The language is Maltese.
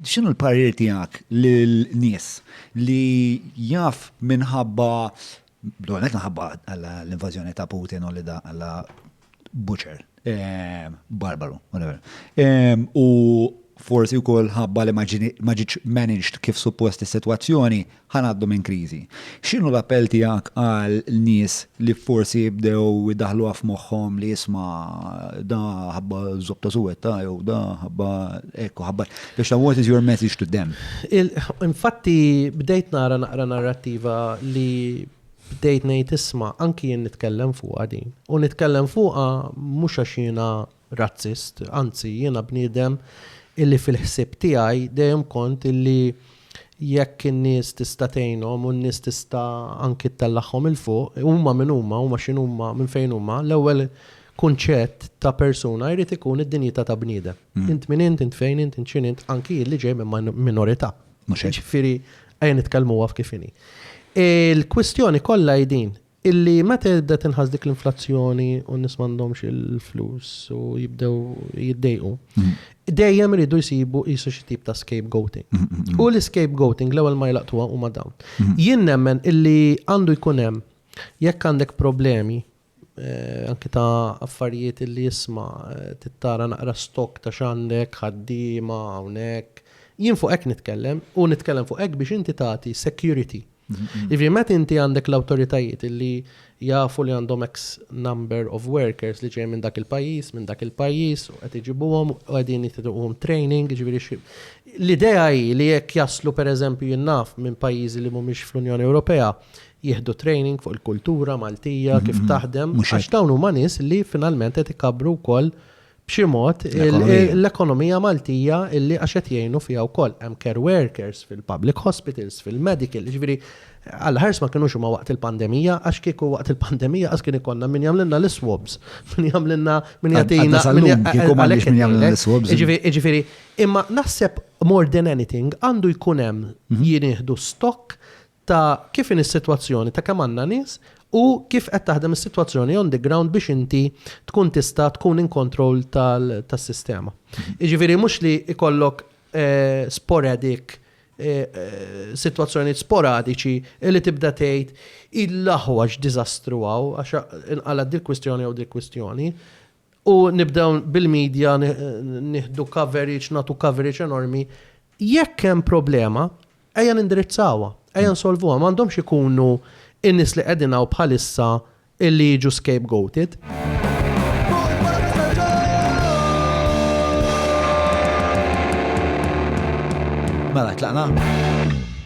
X'inhu l-parir tiegħek lil nies li jaf minħabba, l-ewwel nett minħabba l-invażjoni ta' Putin u li da alla butcher, barbaru, whatever. U forsi wkoll ħabba li ma ġietx managed kif suppost is-sitwazzjoni Ħa ngħaddu minn kriżi. X'inhu l-appell tiegħek għal nies li forsi bdew idaħħluha f'moħħhom li isma' da ħabba żopp ta' suwetta jew da ħabba hekk u ħabba biex ta' what is your message to them? Infatti bdejt nara naqra narrattiva li bdejt ngħid isma' anki jien nitkellem fuqha din u nitkellem fuqha mhux għax jiena razzist, anzi jiena bniedem illi fil-ħsieb tiegħi dejjem kont illi jekk in-nies tista' tgħinhom u n-nies tista' anki ttellagħhom 'il fuq, huma min huma, huma x'inhuma, minn fejn huma, l-ewwel kunċett ta' persuna jrid ikun id-dinjità ta' bniedem. Int min int, int fejn int, int x'inhi int, anki jien li ġej minn minorità. Mhux hekk? Jiġifieri ejja nitkellmuha f'kif inhi. Il-kwistjoni kollha hi din, Illi meta tibda tinħass dik l-inflazzjoni u n-nies m'għandhomx il-flus u jibdew jiddejqu, dejjem iridu jsibu qisu xi tip ta' scapegoating. U l-scapegoating l-ewwel ma jlaqtuha huma dawn. Jien nemmen illi għandu jkun hemm jekk għandek problemi anki ta' affarijiet illi isma' trid tara naqra stock ta' x'għandek, ħaddiema hawnhekk. Jien fuq hekk nitkellem u nitkellem fuq hekk biex inti tagħti security Jiġifieri meta inti għandek l-awtoritajiet li jafu li għandhom X number of workers li ġej minn dak il-pajjiż, minn dak il-pajjiż, u qed iġibuhom u qegħdin jittuhom training, ġifieri xi. L-idea hi li jekk jaslu pereżempju jinnaf minn pajjiżi li mhumiex fl-Unjoni Ewropea, jieħdu training fuq il-kultura Maltija, kif taħdem, għax dawn huma nies li finalment qed ikabbru wkoll b'xi mod l-ekonomija Maltija illi għax qed jgħinu fiha wkoll hemm care workers fil-public hospitals, fil-medical, jiġifieri għal ħars ma kinux huma waqt il-pandemija għax kieku waqt il-pandemija għax kien ikollna min jagħmlilna l-swabs, min jagħmlilna min jagħtina għalhekk min jagħmlilna l-swabs. Jiġifieri imma naħseb more than anything għandu jkun hemm mhm. jieħdu stock ta' kif inhi s-sitwazzjoni, ta' kemm għandna nies u kif qed taħdem is-sitwazzjoni on the ground biex inti tkun tista' tkun in control tas-sistema. Jiġifieri mhux li jkollok sporadic, sitwazzjonijiet sporadiċi li tibda tgħid il-aħwa x'diżastru hawn għax inqalgħet dil-kwistjoni jew dik kwistjoni. U nibdew bil-media nieħdu coverage, nagħtu coverage enormi. Jekk hemm problema, ejja nindirizzawha, ejja nsolvuha. Ma għandhomx ikunu in-nies li qegħdin hawn bħalissa illi jiġu scapegoated. Mela, tlaqna?